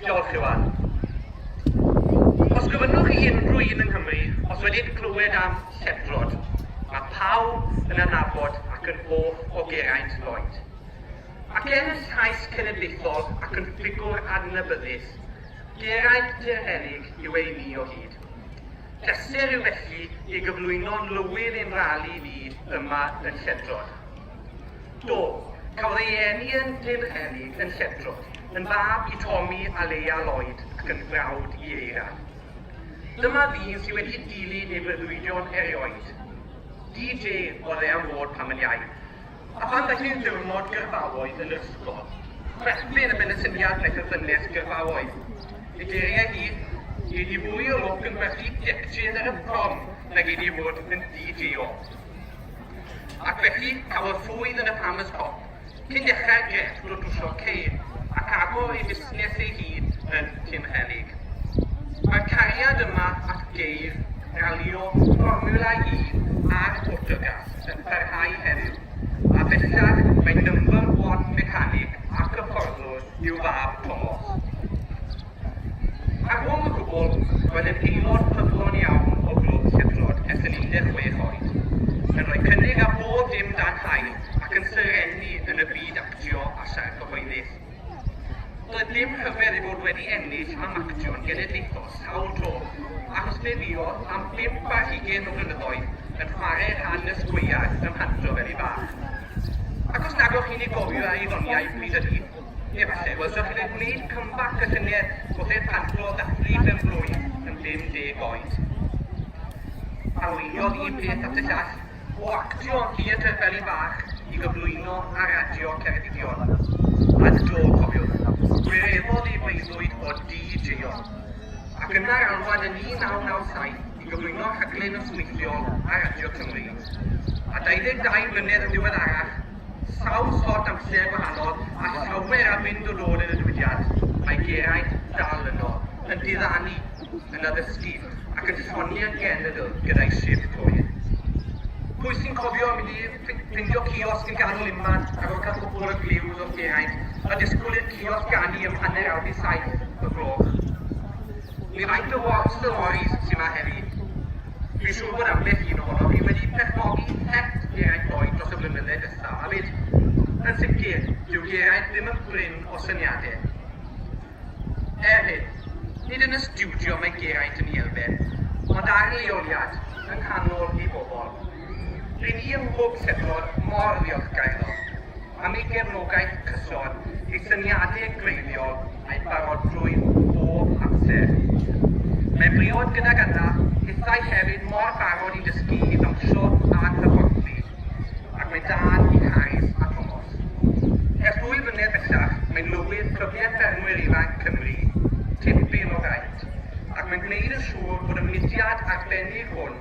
Diolch, Iwan. Os gofynnwch i unrhyw un yng Nghymru os wedi'n clywed am Lledrod, mae pawb yn anabod ac yn hoff o Geraint Lloyd. Ac er yn llais cenedlaethol ac yn ffigwr adnabyddus, Geraint Tyrhennig yw ei ni o hyd. Pleser yw felly i gyflwyno Lywydd ein rali ni yma yn Lledrod. Do, cafodd ei eni yn Nhebychenig yn Lledrwch, yn fab i Tommy a Leia Lloyd ac yn frawd i Eira. Dyma ddyn sydd wedi dilyn ei breuddwydion erioed. DJ oedd e am fod pan yn iau, a phan ddaeth i'r diwrnod gyrfaoedd yn yr ysgol, chwerthin y ben y syniad wnaeth y ddynes gyrfaoedd. Y geiriau hi, Gei di fwy o lwc yn gwerthu deptyn ar y prom na gei di fod yn DJ o. Ac felly, cafodd Llwyd yn y pan y top, cyn dechrau Jeff drwy drwsio Kane ac agor ei fusnes ei hun yn Tymhelyg. Mae'r cariad yma at geir ralio Fformiwla Un a'r Portygaf yn parhau heddiw, a bellach mae number one mechanic ac hyfforddwr i'w fab Tomos. Ar ôl y gôl, roedd yn aelod ffyddlon iawn o Glwb Sibrwd ers yn 16 oed, yn rhoi cynnig ar bob dim dan haul ac yn serennu yn y byd actio a siarad cyhoeddus. Doedd dim rhyfedd ei fod wedi ennill am actio'n genedlaethol sawl tro, achos fe fuodd am bump ar hugain o flynyddoedd yn chwarae rhan y sgweiar ym Mhanto fel un fach. Ac os nag o'ch chi'n ei gofio ar ei ddoniau pryd hynny, Efallai, wel, dach chi'n ei wneud comeback y llynedd, oedd e'n parclo da prif mewn blwydd yn 50 oed. Arweiniodd un peth at y llall, o actio yn theatr beli bach i gyflwyno ar radio Ceredigion. Ad do, cofiwch, gwireddodd ei breuddwyd o DJ-o. Ac yna'r alwad yn 1997 i gyflwyno rhaglen nosweithiol ar radio Cymru. A 22 mlynedd yn ddiweddarach, Sawl sort amser gwahanol a llawer am fynd yn ôl yn y diwydiant, mae Geraint dal yno, yn diddanu, yn addysgu ac yn soni yn genedl gyda'i syrth coer. Pwy sy'n cofio mynd i ffindio ciosg yn ganol unman a gorfod cael cwpl o gliws wrth Geraint a disgwyl i'r ciosg ganu am hanner awr i saith y gloch? Mi faint o war storis sy'ma heddi? Fi'n siŵr bod ambell un ohonof fi wedi perchnogi het Geraint Lloyd dros y blynydde diwethaf 'ma 'fyd. Yn sicr, dyw Geraint ddim yn brin o syniade. Er hyn, nid yn y stiwdio mae Geraint yn 'i elfen, ond ar leoliad, yng nghanol ei bobl. Ry'n ni yng Nghwb Sedlor mor ddiolchgar iddo. am ei gefnogaeth cyson, ei syniadau gwreiddiol a'i barodrwydd bob amser. Mae'n briod gydag yna hithau hefyd mor barod i dysgu, i ddawnsio a'n hyfforddlu, ac mae dal i Harris a Tomos. Ers dwy flynedd bellach, mae'n lywydd Clybiau Ffermwyr Ifanc Cymru, tipyn o fraint, ac mae'n gwneud yn siŵr bod y mudiad arbennig hwn